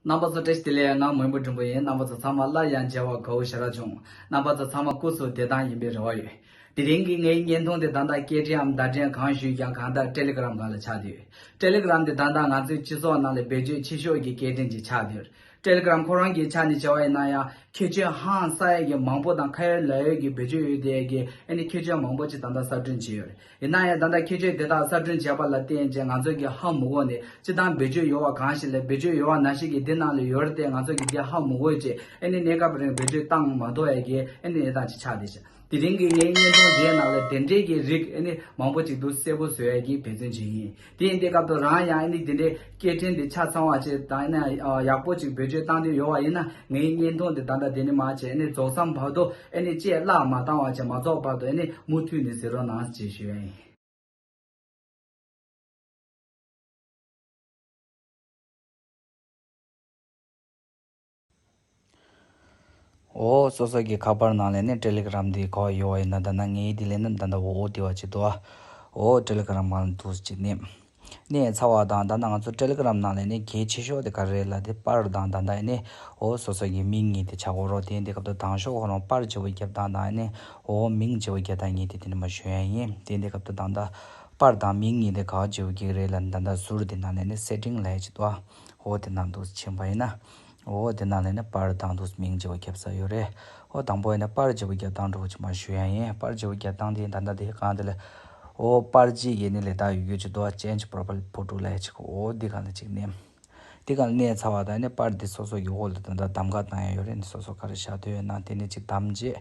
རྣམ་པ་ཚོ་བཀྲ་ཤིས་བདེ་ལེགས་ཡ་ང་མོན་པོ་འབྲིང་པོ་ཡིན་རྣམ་པ་ཚོ་ཚང་མ་སླར་ཡང་མཇལ་བར་དགའ་བོ་ཞེ་དྲག་བྱུང་རྣམ་པ་ཚོ་ཚང་མ་སྐུ་གཟུགས་བདེ་ཐང་ཡིན་པའི་རེ་བ་ཡོད་དེ་རིང་གི་ངའི་བརྙན་ཐུང་དེ་དང་ཐག་སྐད་འཕྲིན་འམ་བརྡ་འཕྲིན་གང་ཞུས་ཀྱང་གང་ལྟར་ཏྲེ་ལི་ཀི་རམ་གང་ལ་ཆགས་དུས་ཏྲེ་ལི་ཀི་རམ་དེ་ད་ལྟ་ང་ཚོའི་སྤྱི་ཚོགས་ནང་ལ་བེད་སྤྱོད་ཆེ་ཤོས་ཀྱི་སྐད་འཕྲིན་གྱི་ཆགས་དུས་ཏྲེ་ལི་ཀི་རམ་ཁོ་རང་གི་ཆ་ནས་བྱས་བ་ཡིན་ན་ཡང་ཁྱད་ཆོས་ཧང་སང་ཡོད་ཀྱི་མང་པོ་དང་ཁ་ཡོད་ལག་ཡོད་ཀྱི་བེད་སྤྱོད་ཡོད་དེ་ཡ་གི་ཨ་ནི་ཁྱད་ཆོས་མང་པོ་ཅིག་ད་ལྟ་གསར་སྐྲུན་བྱས་ཡོད། ཡིན་ན་ཡང་ད་ལྟ་ཁྱེད་ཆོས་དེ་དག་གསར་སྐྲུན་བྱས་པ་ལ་བརྟེན་རྗེས་ང་ཚོ་གི་ཧ་མུ་ཧོ་ནི་སྤྱི་བཏང་བེད་སྤྱོད་ཡོད་བ་གང་ཞིག་ལས་བེད་སྤྱོད་ཡོད་བ་ན་ཞིག་གིས་འདི་གནང་ལོས་ཡོད་རེད་དེ་ང་ཚོ་གི་འདི་ཧ་མུ་ཧོའི་རྗེས་ཨེ་ནི་གནས་སྐབས་རིང་བེད་སྤྱོད་བཏང་མ་ཐོ་ཡ་གི་ཨེ་ནི་ཨེ་དང་ཅི་ཆགས་དེ་བྱས་དེ་རིང་གི་ངའི་བརྙན་ཐུང་འདིའི་ནང་ལ་དེ་འདྲའི་གི་རིགས་ཨེ་ནི་མང་པོ་ཅིག་འདུག་གསལ་པོ་བཟོ་ཡ་གི་འབད་བརྩོན་བྱེད་ཡིན། དེ་ཡིན་དེ་སྐབས་དུ་རང་ཡང་ཨེ་ནི་དེ་འདྲའི་སྐད་འཕྲིན་དེ་ཆ་ཚང་བ་ཅིག་དང་ཨེ་ནི་ཡག་པོ་ཅིག་བེད་སྤྱོད་བཏང་དུས་ཡོད་བ་ཡིན་ན་ངའི་བརྙན་ཐུང་དེ་ད་ལྟ་དེ་ནི་མ་བྱས་ཨེ་ནི་རྫོགས་མཚམས་བར་དུ་ཨེ་ནི་བཅད་བརླག་མ་བཏང་བ་ཅིག་མ་རྫོགས་བར་དུ་ཨེ་ནི་མུ་མཐུད་ནས་ཟེར་རོགས་གནང་ཅེས་ཞུ་ཡ་ཡིན། འོ། སོ་སོ་གི་ཁ་པར་ནང་ལས་ནི Telegram དེ་གོ་ཡོད་ཡིན་ན་ད་ནངས་དེ་ལས་ནི་ད་ད་འོ་འོ་དེ་བ་ཅིག་འདུག་ཨོ། Telegram གང་ལ་འདུག་ཅིག་ནི། ནས་ཚར་བ་དང་ད་ནངས་ང་ཚོ Telegram ནང་ལས་ནི་གལ་ཆེ་ཤོས་དེ་ག་རེ་རེད་ལ་དེ་པར་དང་ད་ད་ནི་འོ་སོ་སོ་གི་མིང་ངེས་དེ་ཆ་གོ་རོགས་དེ་འདི་སྐབས་ད་དང་ཤོག་ཁོ་རང་པར་ཇི་བོ་བརྒྱབ་དང་ད་ནི་འོ་མིང་ཇི་བོ་བརྒྱབ་དང་ངེས་དེ་དེ་ནི་མ་ཞུ་ཡ་ཡིན་དེ་འདི་སྐབས་ད་དང་ད་པར་དང་མིང་ངེས་དེ་ག་ཇི་བོ་བརྒྱག་རེད་ལ་ད་ད་ཟུར་དེ་ནང་ལས་ནི Setting ལས་ཅིག་འདུག་ཨ། འོ་དེ་རྣམས་དུག་ཆེན་པོ་ཡིན་ན། འོ་དེ་རྣམས་ལས་ནི་པར་བརྡང་དུག་མིང་བརྗེ་བོ་བརྒྱ་བཟའ་ཡོད་རེད། འོ་དང་པོ་ཡིན་ན་པར་བརྗེ་བོ་བརྒྱ་བརྡང་འགྲོ་བོ་ཆུང་མ་ཞུ་ཡང་ཡིན་པར་བརྗེ་བོ་བརྒྱ་བརྡང་དེ་ད་ལྟ་དེ་གང་དེ་ལས། འོ་པར་བརྗེ་ཡེ་ནི་ལས་དག་ཡོད་ཡོད་ཀྱི་རྡོ་ཅན་གྱི་པོར་པལ་པོ་དྲུག་ལས་གཅིག་གོ་འོ་འདི་གང་ལ་གཅིག་གནས། འདི་གང་ལ་གནས་ཚར་བ་དང་ཡེ་ནི་པར་འདི་སོ་སོ་ཡི་འོག་ལ་ད་ལྟ་གདམ་ག་བཏང་ཡང་ཡོད་རེད་ནི་སོ་སོ་ག་རེ་བཞག་འདོད་ཡོད་ན་དེ་ནས་གཅིག་གདམ་རྗེས།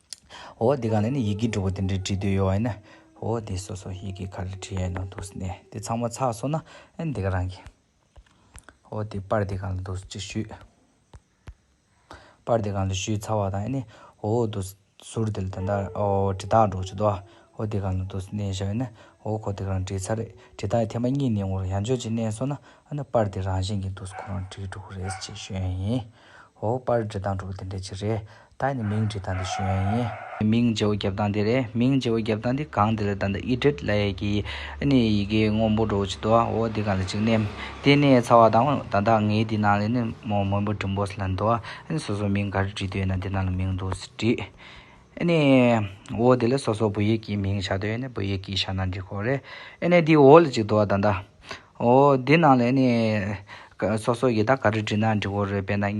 འོ་དེ་གང་ལས་ནི་ཡི་གེ་དྲུག་པོ་དེ་འདྲའི་བྲིས་དུས་ཡོད་བ་ཡིན་ན། འོ་དེ་སོ་སོ་ཡི་གེ་ག་ལ་བྲིས་ཡས་ནོ་འདུག་ཟེར་ནས་དེ་ཚང་མ་ཚགས་སོང་ན་ཨེ་འདི་ག་རང་གི། འོ་དེ་པར་དེ་གང་ལ་འདུག་ཅིག་ཞུས། པར་དེ་གང་ལ་ཞུས་ཚར་བ་དང་ཡེ་ནས་འོ་འདུག་ཟུར་དེ་ལ་ད་ལྟ་འོ་དྲི་རྟགས་འགྲོ་བྱེད་དོ། འོ་དེ་གང་ལ་འདུག་ཟེར་ནས་བཞག་ཡས་ན་འོ་ཁོ་དེ་ག་རང་བྲིས་ཚར་རེད་དྲི་རྟགས་ཡི་ཐེངས་པ་གཉིས་ནས་ངོ་རང་ཡང་ཆོད་ཅིག་གནས་སོང་ན་ཨ་ནི་པར་དེ་རང་བཞིན་གྱིས་འདུག་ཁོ་རང་བྲིས་དྲུག་པོ་རེད་ཅེས་ཞུས་ཡས་ཡིན། ཧོ། པར་འབྲི་སྟངས་དྲུག་དེ་འདྲ་གཅིག་རེད། ད་ནི་མིང་འབྲི་སྟངས་འདི་ཞུ་ཡོན་ཡིན། མིང་བརྗེ་བོ་བརྒྱབ་སྟངས་འདི་རེད། མིང་བརྗེ་བོ་བརྒྱབ་སྟངས་འདི་གང་འདི་ལ་ད་ནི་ཨི་བྲིད་ལ་ཡས་ཀྱི། ཨི་ནི་ཡི་གེ་སྔོན་པོ་འགྲོ་ཅིག་འདོད། ཨོ་དེ་གང་ལ་ཅིག་ནི། དེ་ནི་ཚ་བ་དང། ད་ལྟ་ངའི་དེ་ནང་ལས་ནི་མོ་སྔོན་པོ་བྲིན་པོས་ལ་འདོད། ཨི་ནི་སོ་སོ་མིང་ག་རེ་བྲིས་འདོད་ཡོད་ན་དེ་ནང་ལ་མིང་འདུག་ཟེར་བྲིས། ཨི་ནི། ཨོ་དེ་ལ་སོ་སོ་བུ་ཡིག་གིས་མིང་བྱ་འདོད་ཡོད་ན་བུ་ཡིག་གིས་བྱ་ན་འགྲིག་ཁོ་རེད། ཨི་ནི་དེ་ཨོ་ལ་ཅིག་འདོད་ད་ལྟ། འོ། འདི་རྣམས་ལས་ནི། སོ་སོ་ཡི་དྭགས་ག་རེ་བྲིས་ན་འགྲིག་གོ་རེད་དཔེར་ན།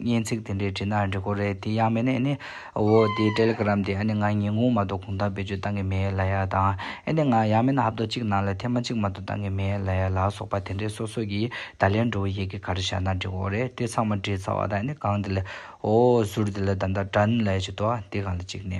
སྙན་ཚིག་དེ་འདྲས་བྲིས་ན་འགྲིག་གོ་རེད་དེ་ཡང་མིན་ན་ནི། འོ། དེའི་ཏེ་ལེ་གྷརམ་དེ་ཨ་ནི་ང་ཉིན་གུང་མ་གཏོགས་གུང་ཐང་བེད་སྤྱོད་བཏང་གི་མེད་ལ་ཡ་དང། ཨེ་ནི་ང་ཡང་མིན་ན་ཧབ་ཏོ་གཅིག་ནང་ལ་ཐེངས་མ་གཅིག་མ་གཏོགས་བཏང་གི་མེད་ལ་ཡ་ལ་སོགས་པ་དེ་འདྲས་སོ་སོ་ཡི་དྭགས་ལས་འགྲོ་བའི་ཡི་གེ་ག་རེ་བཞག་ན་འགྲིག་གོ་རེད་དེ་ཚང་མ་བྲིས་ཚར་བ་དང་ཨ་ནི་གང་འདི་ལས། འོ། ཟུར་འདི་ལ་ད་ལྟ་དྲན་ལ་ཡ་བྱེད་དོ། དེ་གང་ལ་གཅིག་ནི།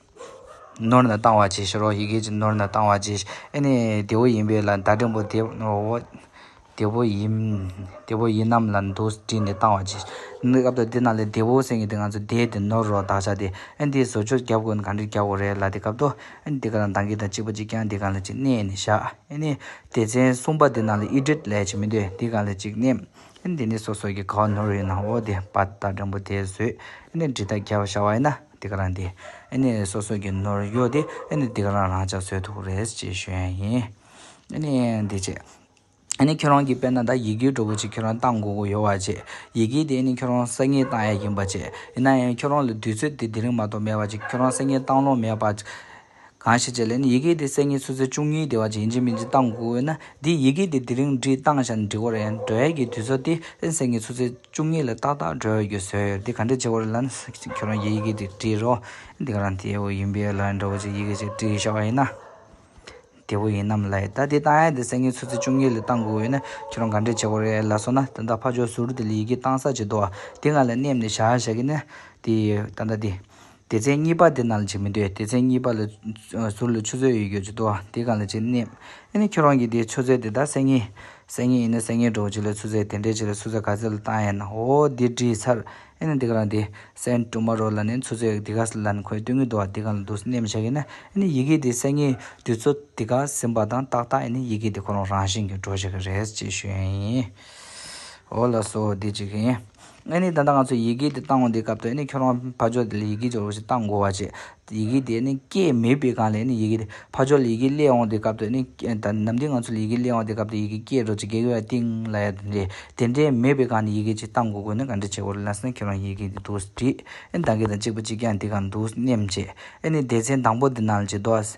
ནོར་ན་བཏང་བ་གྱིས་ཤིག་རོ་ཡི་གེ་ཀྱི་ནོར་ན་བཏང་བ་གྱིས་ཨེ་ནས་དེ་བོ་ཡིན་པས་ལ་མདའ་འགྲིམ་པོ་དེ་དེ་བོ་ཡིན་དེ་བོ་ཡིན་ནམ་ལ་མདོ་བྲིས་ནས་བཏང་བ་གྱིས་ཤིག་སྐབས་དོག་དེ་ན་ལས་དེ་བོ་སེང་གེ་དེ་ང་ཚོ་བསྡད་དེ་ནོར་རོ་བདག་ཅག་དེ་ཨེ་འདི་བཟོ་བཅོས་བརྒྱབ་དགོས་ན་གང་འདྲི་བརྒྱབ་དགོས་རེད་ལ་དེ་སྐབས་དོག་ཨེ་ནས་དེ་ག་ལ་མདང་གི་དང་གཅིག་པ་གཅིག་རྐྱང་དེ་གང་ལ་གཅིག་གནས་ནས་བཞག་ཨེ་ནས་དེ་ཚན་གསུམ་པ་དེ་ན་ལ་ཨི་བྲིས་ལས་ཀྱི་མི་འདོད་དེ་གང་ལ་གཅིག་གནས་ཨེ་ནས་དེ་ནས་སོ་སོ་གི་ག་བ་ནོར་ཡོད་ན་འོ་དེ་བ་མདའ་འགྲིམ་པོ་དེ་བཟོས་ཨེ་ནས་འདྲི་དག་བརྒྱབ་བཞག་བ་ཡིན་ན། འདི་ག་རང་དེ་ནི་སོ་སོ་གི་ནོར་གཡོག་དེ་ནི་འདི་ག་རང་རང་ཅག་ཚོའི་ཐུགས་རེད་ཅེས་ཞུས་ཡིན། འདི་ཅེས། ཁྱོད་རང་གིས་དཔེར་ན་ད་ཡི་གེའི་གྲོགས་པོ་ཅིག་ཁྱོད་རང་གཏང་དགོས་ཀྱི་ཡོད་བ་ཅེས། ཡི་གེ་དེ་ནི་ཁྱོད་རང་གསར་རྙེད་གཏང་ཡས་ཡིན་པ་ཅེས། ཡིན་ན་ཡང་ཁྱོད་རང་ལ་དུས་ཚོད་དེ་དེ་རིང་མ་གཏོགས་མེད་པ་ཅིག་ཁྱོད་རང་གསར་རྙེད་གཏང་ལོང་མེད་པ། གང་ཞིག་ཅེས་ལན། ཡི་གེ་དེ་སེམས་ཉིད་སུ་ཚེ་བཅུ་གཉིས་བདེ་བ་ཅན་ཡིན་གཅིག་མིན་གཅིག་གཏང་དགོས་འོས་ན་འདིས་ཡི་གེ་དེ་དེ་རིང་བྲིས་བཏང་བཞག་ནས་འབྲི་དགོས་རེད་ཡང་སྒྲོལ་ཡག་གིས་དུས་ཚོད་དེ་རིང་སེམས་ཉིད་སུ་ཚེ་བཅུ་གཉིས་ལ་ཏག་ཏག་སྒྲོལ་ཡག་གིས་བཟོས་ཡོད་འདི་ག་འདྲས་བྱེད་དགོས་རེད་ལན། ཁྱོད་རང་གིས་ཡི་གེ་དེ་བྲིས་རོགས། འདི་ག་རང་དེ་བོ་ཡིན་པས་ལན་འདྲ་བོ་ཅིག་ཡི་གེ་ཅིག་བྲིས་ཤོག་ཡིན་ན། དེ་བོ་ཡིན་ནམ་ལན། ད་དེ་བཏང་ཡག་དེ་སེམས་ཉིད་སུ་ཚེ་བཅུ་གཉིས་ལ་གཏང་དགོས་འོས་ན་ཁྱོད་རང་ག་འདྲས་བྱེད་དགོས་རེད་ལ་སོང་ན་ད་ལྟ་ཕ་ཆོས་ཟུར་དེ་ལ་ཡི་གེ་བཏང་ས་བྱེད་དོ། དེ་ང་ལ་སྣེམས་ནས་བཞག་བཞག་གིན་ན་དེ་ད་ལྟ་དེ། སྡེ་ཚན་གཉིས་པ་དེ་རྣམས་ལ་བྱེད་མི་འདོད། སྡེ་ཚན་གཉིས་པ་ལ། ཟུར་ལ་ཆུ་ཚོད་ཡོད་རྒྱུར་བྱེད་དོ། དེ་གང་ལ་བྱེད། སྣེབས། ཨེ་ནི་ཁྱོད་རང་གིས་དེའི་ཆུ་ཚོད་དེ་དག་གསལ་ངེས། གསལ་ངེས་ཡིན་ན་གསལ་ངེས་གྲོགས་གཅིག་ལ་ཆུ་ཚོད་དེ་འདྲའི་ཆེ་ལ་ཆུ་ཚོད་ག་ཚོད་ལ་བཏང་ཡས་ན་འོ་འདི་བྲིས་ཚར། ཨེ་ནི་འདི་ག་རང་དེ། Send Tomorrow ལ་ནི་ཆུ་ཚོད་འདི་ག་ལ་ནི་ཁོས་བསྟོད་ངེས་འདུག་དེ་གང་ལ་འདུག་སྣེབས་མི་བྱ་གི་ན། ཨེ་ནི་ཡི་གེ་དེ་གསལ་ངེས་དུས་ཚོད་དེ་ག་ཟིན་པ་དང་ཏག་ཏག་ཨེ་ནི་ཡི་གེ་དེ་ཁོ་རང་རང་བཞིན་གྱིས་འགྲོ་བྱེད་ཀྱི་རེད་ཅེས་ཞུས་ཡིན། འོ་ལགས་སོ་འདི་གཅིག་ཡིན། ཨེ་ནི་ད་ལྟ་ང་ཚོས་ཡི་གེ་དེ་བཏང་བ་འདིའི་སྐབས་དུ་ཨེ་ནི་ཁྱོད་རང་ཕ་ཇོ་དེ་ལ་ཡི་གེ་སྦྱོར་བ་ཞིག་བཏང་དགོ་བ་བྱེད། ཡི་གེ་དེ་ཨེ་ནི་སྐད་མེད་དཔེ་གང་ལས་ཨེ་ནི་ཡི་གེ་དེ་ཕ་ཇོ་ལ་ཡི་གེ་གླེང་འོང་དེའི་སྐབས་དུ་ཨེ་ནི་ད་ནམ་དུས་ང་ཚོ་ལ་ཡི་གེ་གླེང་བ་དེའི་སྐབས་དུ་ཡི་གེ་སྐད་སྒྲོག་ཅིག་གེགས་ཡོད་ཡ་ཏིང་ལ་ཡ་དེ་འདྲའི་དེ་འདྲའི་མེད་དཔེ་གང་ནས་ཡི་གེ་ཅིག་བཏང་དགོ་དགོས་ན་ག་འདྲི་བྱེད་དགོ་རེད་ལབ་ས་ན་ཁྱོད་རང་ཡི་གེ་དེ་འདུག་བྲིས་ཨེ་ནི་ད་གེ་དང་གཅིག་པ་གཅིག་རྐྱང་དེ་གང་འདུག་སྙེམས་བྱེད་ཨེ་ནི་སྡེ་ཚན་དང་པོ་དེ་ནང་ལ་ཅིག་འདོགས།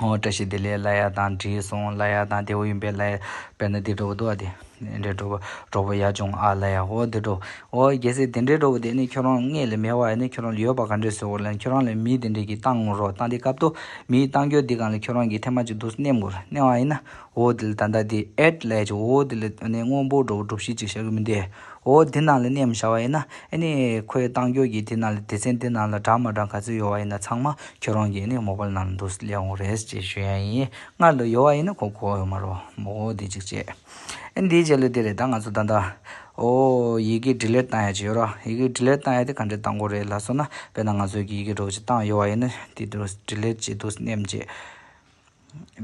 བཀྲ་ཤིས་བདེ་ལེགས་བླ་ཡག་དང་བྲིས་སོང་བླ་ཡག་དང་བདེ་བོ་ཡིན་པས་བླ་ཡག་དཔེར་ན་དེ་འདྲ་བོ་འདུག་ཨ་དེ་འདྲའི་གྲོགས་པོ་གྲོགས་པོ་ཡག་བྱུང་ཨ་བླ་ཡག་ཨོ་དེ་འདྲ་བོ་ཨོ་རྒྱལ་སྲས་དེ་འདྲའི་གྲོགས་པོ་དེ་ནི་ཁྱོད་རང་ངས་ལས་མེད་བ་ཡིན་ན་ཁྱོད་རང་ལ་ཡོད་པ་ག་འདྲས་བཟོས་དགོས་ཁྱོད་རང་ལ་མི་དེ་འདྲས་ཀྱིས་བཏང་རོགས་བཏང་དེ་སྐབས་ཐོག་མིའི་བཏང་རྒྱུ་དེ་གང་ལ་ཁྱོད་རང་གིས་ཐེངས་མ་གཅིག་དུས་སུ་མནན་དགོས་མནན་བ་ཡིན་ན་ཨོ་དེ་ལ་ད་ལྟ་དེ་ཨེ་བླ་ཡག་ཅིག་ཨོ་དེ་ལ་ཨ་ནེ་དངོས་པོ་གྲོགས་པོ་སྒྲུབ་གཞི་གཅིག་བཞག་གི་མི་འདུག་འོ་དེ་རྣམས་ལ་གནས་མི་བྱ་བ་ཡིན་ན། ཨེ་ནས་ཁོའི་གཏང་རྒྱུ་གྱི་དེ་རྣམས་ལ་སྡེ་ཚན་དེ་རྣམས་ལ་གྲགས་མ་གྲགས་ག་ཚོད་ཡོད་བ་ཡིན་ན་ཚང་མ་ཁྱོད་རང་གིས་ནས་མོ་པ་རྣམས་འདུག་སླེ་འོང་རེས་ཅེས་ཞུ་ཡ་ཡིན། སྔར་ལོ་ཡོད་བ་ཡིན་ན་ཁོ་གོ་ཡོད་མ་རོགས། མོ་འོ་དེ་ཅིག་བྱས། ཨེ་འདིའི་རྗེས་ལུས་དེ་རེད་ད་ང་ཚོ་ད་ལྟ། འོ། ཡི་གེ་འབྲི་ལེར་གཏང་ཡ་ཅི་ཡོད་རོགས། ཡི་གེ་འབྲི་ལེར་གཏང་ཡ་དེ་ག་འདྲའི་གཏང་སྒོ་རེད་ལ་སོགས་ན་དཔེར་ན་ང་ཚོའི་གི་ཡི་གེ་སྒྲོག་ཅིག་གཏང་ཡོད་བ་ཡིན་ན་དེ་འདུག་འབྲི་ལེར་ཅིག་འདུག་སྣེམས་ཅེས།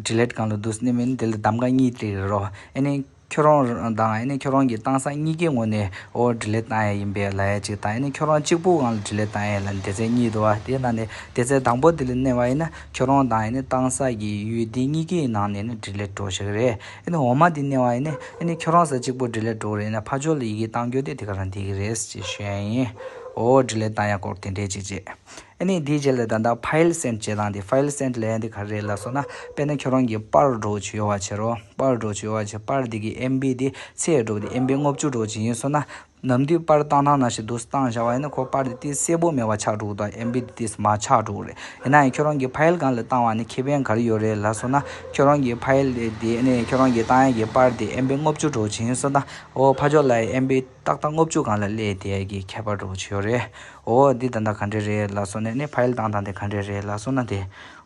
དྲི་ལད་གང་དུ་འདུག་སྣེ་མིན་དེ་ལ་གདམ་ག་གཉིས་སྟེར་ཡོད་རོགས་ཨེ་ནས་ཁྱོད་རང་དང་ཨེ་ནས་ཁྱོད་རང་གི་གཏང་ས་གཉིས་ཀའི་ངོས་ནས་ཨོ་དྲི་ལད་གཏང་ཡས་ཡིན་པས་ལ་ཡས་ཅིག་དང་ཨེ་ནས་ཁྱོད་རང་གཅིག་པུའང་ལ་དྲི་ལད་གཏང་ཡས་ལ་དེ་ཚེ་གཉིས་དུ་བ་དེ་ན་ནས་དེ་ཚེ་དང་པོ་དེ་ལ་གནས་བ་ཡིན་ན་ཁྱོད་རང་དང་ཨེ་ནས་གཏང་ས་ཀྱི་ཡུལ་དེ་གཉིས་ཀའི་ནང་ནས་ནས་དྲི་ལད་འགྲོ་ཞིག་རེད་ཨེ་ནས་འོ་མ་དེ་གནས་བ་ཡིན་ན་ཨེ་ནས་ཁྱོད་རང་ས་གཅིག་པུ་དྲི་ལད་འགྲོ་རེད་ཨེ་ནས་ཕ་ཇོ་ལ་ཡི་གེ་གཏང་རྒྱུ་དེ་དེ་ག་རང་དེ་གི་རེད་ཅེས་ཞུས་ཡས་ཡིན་ཨོ་དྲི་ལད་གཏང་ཡས་སྐོར་དེ་འདྲས་ཅིག་བྱས། ནི་དེའི་རྗེས་ལས་ད་ལྟ File Send བྱེད་སྟངས་དེ File Send ལས་འདི་ག་རེད་ལ་སོགས་ན་དཔེར་ན་ཁྱོད་རང་གིས་དཔར་སྒྲོག་བྱེད་ཡོང་བ་བྱེད་རོགས། དཔར་སྒྲོག་བྱེད་ཡོང་བ་བྱེད་དཔར་དེ་གི MB དེ་ཚེས་སྒྲོག་དེ MB ལྔ་བཅུ་སྒྲོག་བྱེད་ཡིན་སོང་ན། ནམ་དུས་དཔར་བཏང་ཐང་ན་ཞིག་འདུག་བཏང་བཞག་བ་ཡིན་ན་ཁོ་དཔར་དེ་དེ་གསལ་པོ་མེད་པ་ཆགས་འགྲོ་གི་འདུག MB དེ་དེས་མ་ཆགས་འགྲོ་གི་རེད། ཡིན་ནའང་ཁྱོད་རང་གིས File གང་ལ་བཏང་བ་ནི་ཁེ་ཕན་ག་རེ་ཡོད་རེད་ལ་སོགས་ན། ཁྱོད་རང་གིས File དེ་ནི་ཁྱོད་རང་གིས་བཏང་ཡག་གི་དཔར་དེ MB ལྔ་བཅུ་སྒྲོག་བྱེད་ཡིན་སོང་ན། འོ་ཕ་ཅོག་ལ་ཡི MB། ཏག་ཏག་སྔོ་བཅུད་གང་ལ་སླེ་དེ་གི་ཁྱད་པར་འགྲོ་བོ་བྱོས་རེད་འོ་འདི་ད་ནག་ག་འདྲེ་རེད་ལ་སོ་ནས་ནས་ཕ་ཡིལ་དང་དང་དེ་ག་འདྲེ་རེད་ལ་སོ་ན་དེ་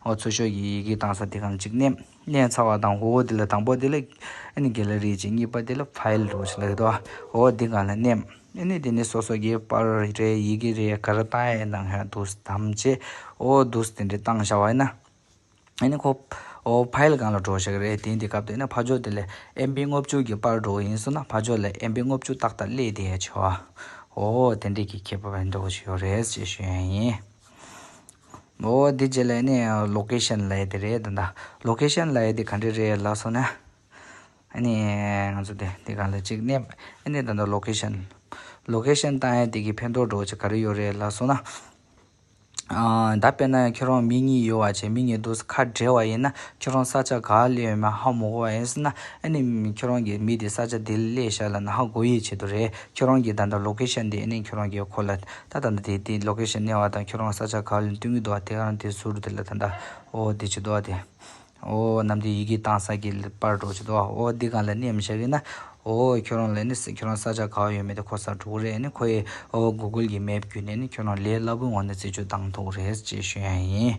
འོ་ཚོ་ཤོས་ཀྱི་ཡི་གེ་དང་ས་དེ་གམ་གཅིག་ནས་ནས་ཚ་བ་དང་འོ་འདི་ལ་དང་པོ་དེ་ལ་ཨེ་ནི་གེ་ལ་རེད་ཅིག་གཉིས་པ་དེ་ལ་ཕ་ཡིལ་འགྲོ་བོ་བྱོས་ལ་རེད་དོ་འོ་འདི་གང་ལ་ནས་ཨེ་ནི་དེ་ནས་སོ་སོ་ཀྱི་པར་རེད་ཡི་གེ་རེད་ག་ར་ཏང་ཨེ་གནང་ཧ་འདུག་དམ་བཅས་འོ་འདུག་དེ་འདྲེ་གཏང་བྱ་བ་ཨེ་ན་ཨེ་ནས་ཁོ། ཕཱེལ་གང་ལ་འགྲོ་ཞེས་རེད་དེ་འདི་སྐབས་དེ་ནས་ཕ་ཇོ་དེ་ལས་ཨེམ་པི་རྔུབ་བཅུག་གི་པར་འགྲོ་གི་ཡིན་སོང་ན་ཕ་ཇོ་ལས་ཨེམ་པི་རྔུབ་བཅུག་ཏག་ཏག་སླེ་དེ་ཡས་ཆེ་བ། ཨོ་དེ་འདྲས་ཀྱི་ཁྱད་པར་བས་འགྲོ་གི་ཞིག་ཡོད་རེད་ཅེས་ཞུས་ཡས་ཡིན། ཨོ་དེ་རྗེས་ལས་ནས་ལོ་ཀེ་ཤན་ལ་ཡས་དེ་རེད་ད། ལོ་ཀེ་ཤན་ལ་ཡས་དེ་ག་འདྲས་རེད་ལ་སོང་ན། ཨེ་ནས་ང་ཚོ་དེ་དེ་ག་ལ་ཅིག་གནས་པ་ཨེ་ནས་ད་ལོ་ཀེ་ཤན། ལོ་ཀེ་ཤན་བཏང་ཡས་དེ་གི་ཕན་ཐོག་འགྲོ་གི་ཅིག་ག་རེ་ཡོད་རེད་ལ་སོང་ན། ད་དཔེར་ན་ཁྱོད་རང་མི་གཉིས་ཡོད་བ་བྱས་མི་གཉིས་སྡོད་ས་ཁ་བྲལ་བ་ཡིན་ན་ཁྱོད་རང་ས་ཆ་ག་ལ་ཡོད་མེད་ཧ་མོ་གོ་བ་ཡིན་སྲིད་ན་ཨ་ནི་ཁྱོད་རང་གིས་མི་དེ་ས་ཆ་དེ་ལས་བཤད་ལ་ན་ཧ་གོ་ཡི་བྱེད་དུ་རེད་ཁྱོད་རང་གིས་ད་ལྟ་ལོ་ཀེ་ཤན་དེ་ཨ་ནི་ཁྱོད་རང་གིས་ཁོ་ལ་ད་ད་ལྟ་དེ་ལོ་ཀེ་ཤན་གནས་བ་དང་ཁྱོད་རང་ས་ཆ་ག་ལ་འདུག་གི་འདུག་བ་དེ་ག་རང་དེ་ཟུར་དེ་ལ་ད་ད་འོ་དེ་བྱེད་དུ་བ་དེ། འོ་རྣམས་ཀྱི་ཡི་གེ་གཏང་ས་ཀྱི་པར་སྒྲོག་བྱེད་དོ། འོ་འདི་གང་ལ་གནས་མི་བྱ་གི་ན། འོ་ཁྱོད་རང་ལ་ནི་ཁྱོད་རང་ས་ཆ་ག་བ་ཡོད་མེད་དེ་ཁོ་སར་འགྲོ་གི་རེད་ནི་ཁོ་ཡི་འོ་གུ་གུལ་གྱི་མལ་བརྒྱུད་ནས་ནི་ཁྱོད་རང་ལས་སླ་པོའི་ངང་ནས་རྩིས་སྤྱོད་གཏང་ཐུབ་ཀི་རེད་ཅེས་ཞུ་ཡང་ཡིན།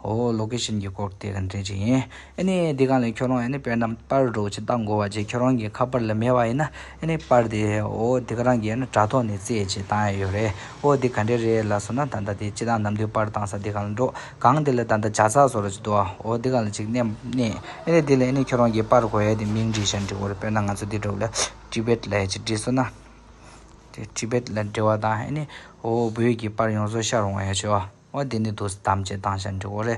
འོ་ལོ་ཀེ་ཤན་གྱི་སྐོར་བལྟས་ག་འདྲས་ཅིག་ཡིན་ནི་འདི་གང་ལ་ཁྱོད་རང་ཡ་ནི་དཔེར་ན་པར་སྒྲོག་བྱེད་གཏང་དགོས་བ་བྱས་ཁྱོད་རང་གི་ཁ་པར་ལ་མེད་བ་ཡིན་ན་ཨེ་ནས་པར་དེ་ཨོ་དེ་ག་རང་གིས་ཡང་ན་དྲ་ཐོག་ནས་རྩེད་ཅེས་བཏང་ཡས་ཡོད་རེད་ཨོ་དེ་ག་འདྲས་རེད་ལ་སོ་ན་ད་ལྟ་དེ་སྤྱི་དང་ནམ་དུས་པར་བཏང་ས་དེ་ག་ལ་འགྲོ་གང་དེ་ལ་ད་ལྟ་བྱ་ཚག་བཟོ་ར་ཅིག་འདུག་ཨོ་དེ་ག་ལ་ཅིག་གནས་ཨེ་ནས་དེ་ལ་ཨེ་ནས་ཁྱོད་རང་གིས་པར་གོ་ཡས་དེ་མིང་བྲིས་ཤིང་འབྲི་གོ་རེ་དཔེར་ན་ང་ཚོ་དེ་འགྲོ་བ་ལ Tibet ལ་ཡས་ཅིག་བྲིས་སོ་ན་དེ Tibet ལ་འབྲི་བ་དང་ཨེ་ནས་ཨོ་བོད་ཀྱི་པར་ཡོངས་རྫོགས་ཤར་འོང་ཡས་ཆོག་ཨོ་དེ་ནས་དུ་སི་དམ་ཅེས་བཏང་ཤིང་འབྲི་གོ་རེ།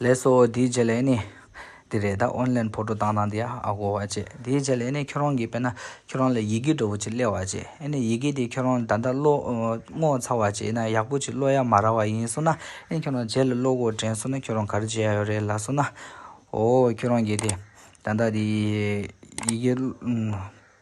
ལེགས་སོ་དེའི་རྗེས་ལས་ནི། དེ་རེད་ད་ཨོན་ལེན་ཕོ་ཏོ་བཏང་དང་དེ་ཨ་གོ་བ་བྱེད་དེའི་རྗེས་ལས་ནི་ཁྱོད་རང་གིས་དཔེ་ན་ཁྱོད་རང་ལ་ཡི་གེ་འདྲ་བོ་ཅིག་གླེང་བ་བྱེད་ཨེ་ནི་ཡི་གེ་དེ་ཁྱོད་རང་ད་ལྟ་བློ་ངོ་ཚ་བ་བྱེད་ན་ཡག་པོ་ཅིག་བློ་ཡག་མ་ར་བ་ཡིན་སོང་ན་ཨེ་ནི་ཁྱོད་རང་རྗེས་ལ་བློ་སྒོ་དྲན་སོང་ན་ཁྱོད་རང་ག་རེ་བྱེད་ཡག་ཡོད་རེད་ལ་སོང་ན་ཨོ་ཁྱོད་རང་གིས་དེ་ད་ལྟ་དེ་ཡི་གེ།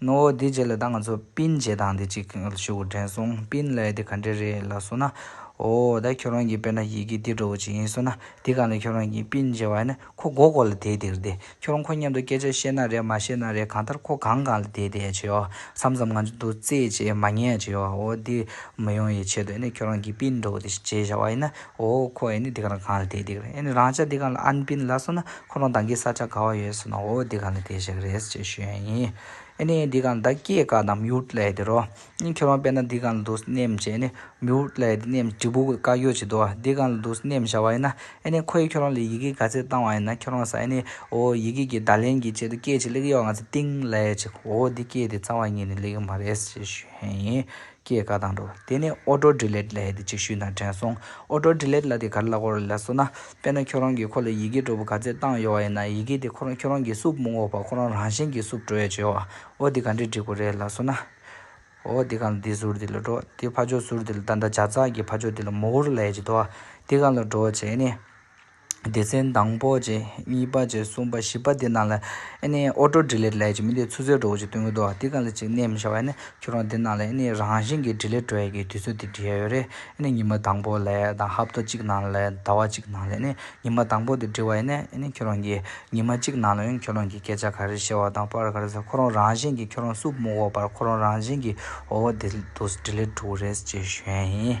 ནོ་བོ་དེའི་རྗེས་ལ་ད་ང་ཚོ་སྤིན་བྱེད་སྟངས་དེ་ཅིག་ཞུ་དགོས་དྲན་སོང་སྤིན་ལའེ་དེ་ག་འདྲས་རེད་ལ་སོ་ན། ཨོ་ད་ཁྱོད་རང་གིས་དཔེར་ན་ཡི་གེ་འདི་འདྲ་བོ་ཅིག་ཡིན་སོ་ན་དེ་ག་ལ་ཁྱོད་རང་གིས་སྤིན་བྱེད་བ་ནི་ཁོ་མགོ་སྐོར་ལ་དེད་དེར་བསྡད་ཁྱོད་རང་ཁོ་མཉམ་དུ་སྐད་ཆ་བཤད་ན་རེད་མ་བཤད་ན་རེད་གང་ལྟར་ཁོ་གང་གང་ལ་དེད་དེ་བྱེད་བསམ་བསམ་ང་ཚོ་འདུག་རྩེད་བྱེད་མ་ཉལ་བྱེད་ཨོ་དེ་མི་ཡོང་ཡི་ཆེད་དུ་ཨེ་ནས་ཁྱོད་རང་གིས་སྤིན་འདྲ་བོ་དེ་བྱེད་བྱ་བ་ཡིན་ན་ཨོ། ཁོ་ཨེ་ནི་འདི་ག་ལ་གང་ལ་དེ་འདི་ག་ལ་ཨེ་ནི་རང་ཅག་འདི་ག་ལ་ཨན་པིན་ལ་སོང་ན་ཁོ་རང་དང་གི་ས་ཆ་ག་བ་ཡོད་སོང་ན་ཨོ་འདི་ག་ལ་དེ་ཞིག་རེད་ཅེས་ཞུས་ཡ་ཡིན། ཨེ་ནི་འདི་ག་ལ་ད་སྐྱེས་ཀ་ནམ་ཡུལ་ལས་དེ་རོ། ཨིན་ཁྱོད་རང་པེ་ན་འདི་ག་ལ་འདུག་སྣེམས་ཅེས་ཨེ་ནི་མིའུ་ལས་དེ་སྣེམས་ཀྲི་པུ་ཀ་ཡོད་ཅེས་དོ་འདི་ག་ལ་འདུག་སྣེམས་བྱ་བ་ཡིན་ན་ཨེ་ནི་ཁོ་ཡིས་ཁྱོད་རང་ལ་ཡི་གེ་ག་ཚད་བཏང་བ་ཡིན་ན་ཁྱོད་རང་ས་ཨེ་ནི་ཨོ་ཡི་གེ་གི་བརྡ་ལན་གི་ཆེད་དུ་སྐད་ཅིག་གླེགས་ཡོད་ང་ཚོ་ཏིང་ལས་ཅིག་ཨོ་འདི་སྐད་དེ་རྩ་བ་ཉིད་ནས་གླེགས་ཡོད་མ་རེད་ཅེས་ཞུས་ཡ་ཡིན། སྐྱེས་དགའ་དང་འགྲོ། དེ་ནས་ཨོ་ཏྲོ་དྲི་ལེད་ལྷའི་དེ་ཅིག་ཤུལ་དང་དྲན་སོང། ཨོ་ཏྲོ་དྲི་ལེད་ལྷ་དེ་ག་རེ་ལ་གོ་རེ་ལ་སོ་ན། དཔེར་ན་ཁྱོད་རང་གིས་ཁོ་ལ་ཡི་གེ་སྒྲོ་བུ་ག་ཚད་བཏང་ཡོད་བ་ཡིན་ན་ཡི་གེ་དེ་ཁོ་རང་ཁྱོད་རང་གིས་སུབ་མི་འགོག་པར་ཁོ་རང་རང་བཞིན་གྱིས་སུབ་འགྲོ་ཡ་བྱེད་བ། ཨོ་དེ་ག་འདྲས་བྲིས་དགོས་རེད་ལ་སོ་ན། ཨོ་དེ་གང་ལ་དེ་ཟུར་དེ་ལ་འགྲོ། དེ་ཕ་ཆོག་ཟུར་དེ་ལ་ད་ལྟ་བྱ་ཙག་གི་ཕ་ཆོག་དེ་ལ་མོ་ཧུར་ལ་ཡ་བྱེད་དོ། དེ་གང་ལ་འགྲོ་བ་བྱས་ནས། སྡེ་ཚན་དང་པོ་བཅས་གཉིས་པ་བཅས་གསུམ་པ་བཞི་པ་དེ་རྣམས་ལ་ཨེ་ཨོ་ཏོ་འདྲི་ལེད་ལས་ཀྱི་མི་དེ་ཚུ་ཚོད་འགྲོ་འོ་ཅི་སྟོན་གི་འདུག་ཨ་དེ་ག་ལ་ཅིག་གནས་མི་ཤ་བ་ཨེ་ནས་ཁྱོད་རང་དེ་རྣམས་ལ་ཨེ་རང་བཞིན་གྱི་འདྲི་ལེད་འགྲོ་ཡ་གི་དུས་ཚོད་དེ་འདྲི་ཡ་ཡོད་རེད་ཨེ་ཉི་མ་དང་པོ་ལས་དང་ཧབ་ཏོ་གཅིག་ནང་ལ་ཟླ་བ་གཅིག་ནང་ལ་ཨེ་ཉི་མ་དང་པོ་དེ་འདྲི་བ་ཨེ་ནས་ཁྱོད་རང་གི་ཉི་མ་གཅིག་ནང་ལ་ཁྱོད་རང་གི་སྐད་ཆ་ག་རེ་བཤད་བ་དང་པར་ག་རེ་ཟེར་ཁོ་རང་རང་བཞིན་གྱི་ཁྱོད་རང་སུབ་མོ་བོ་པར་ཁོ་རང་རང་བཞིན་གྱི་འོ་འོ་དེ་དུས་འདྲི་ལེད་འགྲོ་གི་རེད་ཅེས་ཞུས་ཡ་ཡིན།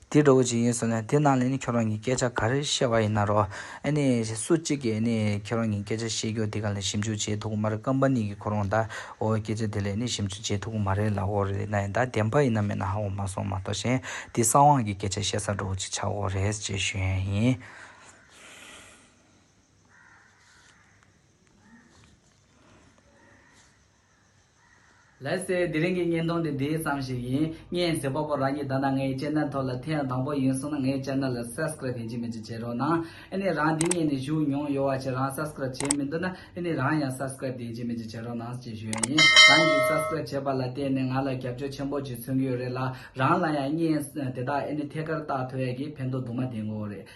དེ་གྲོགས་པོ་གཅིག་ཡིན་ཟེར་ནས་དེ་རྣམས་ལ་ནི་ཁྱོད་རང་གིས་སྐད་ཆ་ག་རེ་བཤད་པ་ཡིན་ན་རོགས། ཨ་ནི། སུ་གཅིག་གིས་ཨ་ནི་ཁྱོད་རང་གིས་སྐད་ཆ་བཤད་རྒྱུ་དེ་ག་ལ་ཞིབ་འཇུག་བྱེད་ཐུབ་ཀྱི་མ་རེད་ཀམ་པ་ནི་གིས་ཁོ་རང་ད་འོ་སྐད་ཆ་དེ་ལས་ནི་ཞིབ་འཇུག་བྱེད་ཐུབ་ཀྱི་མ་རེད་ལ་འོ་རེད་ན་ཡིན་ད་བདེན་པ་ཡིན་ན་མེད་ན་ཧ་འོ་མ་སོང་མ་གཏོགས་གཞན་དེ་ས་དབང་གིས་སྐད་ཆ་བཤད་ས་གྲོགས་པོ་གཅིག་ཆགས་འོ་རེད་ཅེས་ཞུས་ཡས་ཡིན། ལེགས་སེ་དེ་རིང་གི་བརྙན་ཐུང་འདི་འདི་ཙམ་ཞིག་ཡིན་བརྙན་ཟེར་པ་པོ་རང་གཉིས་ད་ལྟ་ངའི་ལྕེ་རྣ་ཐོག་ལ་ཐེངས་དང་པོ་ཡིན་གསུང་ན་ངའི་ལྕེ་རྣ་ལ Subscribe བྱེད་ཅིག་མེད་ཅིག་བྱེད་རོགས་གནང་ཨེ་ནས་རང་འདི་བརྙན་ནས་བཞུགས་མྱོང་ཡོད་བ་ཆེ་རང Subscribe བྱས་མི་འདུག་ན་ཨེ་ནས་རང་ཡང Subscribe བདེན་བྱེད་མེད་ཅིག་བྱེད་རོགས་གནང་ཅེས་ཞུ་ཡོད་ཡིན་རང་གིས Subscribe བྱས་པ་ལ་བརྟེན་ནས་ང་ལ་རྒྱབ་སྐྱོར་ཆེན་པོ་ཅིག་མཚོན་གྱི་ཡོད་རེད་ལ་རང་ལ་ཡང་བརྙན་དེ་དག་ཨེ་ནས་ཐད་ཀར་བཏགས་ཐོ་ཡག་གིས་ཕན་ཐོག་དུ་མ་ལྡན་གོ་རེད།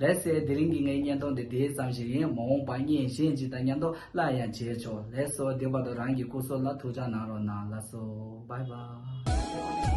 ལེགས་གསལ་དེ་རིང་གི་ངའི་བརྙན་ཐུང་འདི་དེ་ཙམ་ཞིག་ཡིན་མ་འོངས་པ་བརྙན་གཞན་ཞིག་དང་མཉམ་དུ་སླར་ཡང་མཇལ་ཆོག་ལེགས་སོ་དེ་བར་དུ་རང་གི་སྐུ་སྲོག་ལ་ཐུགས་འཇགས་གནང་རོགས་གནང་ལགས་སོ་བྷའི་བྷའི།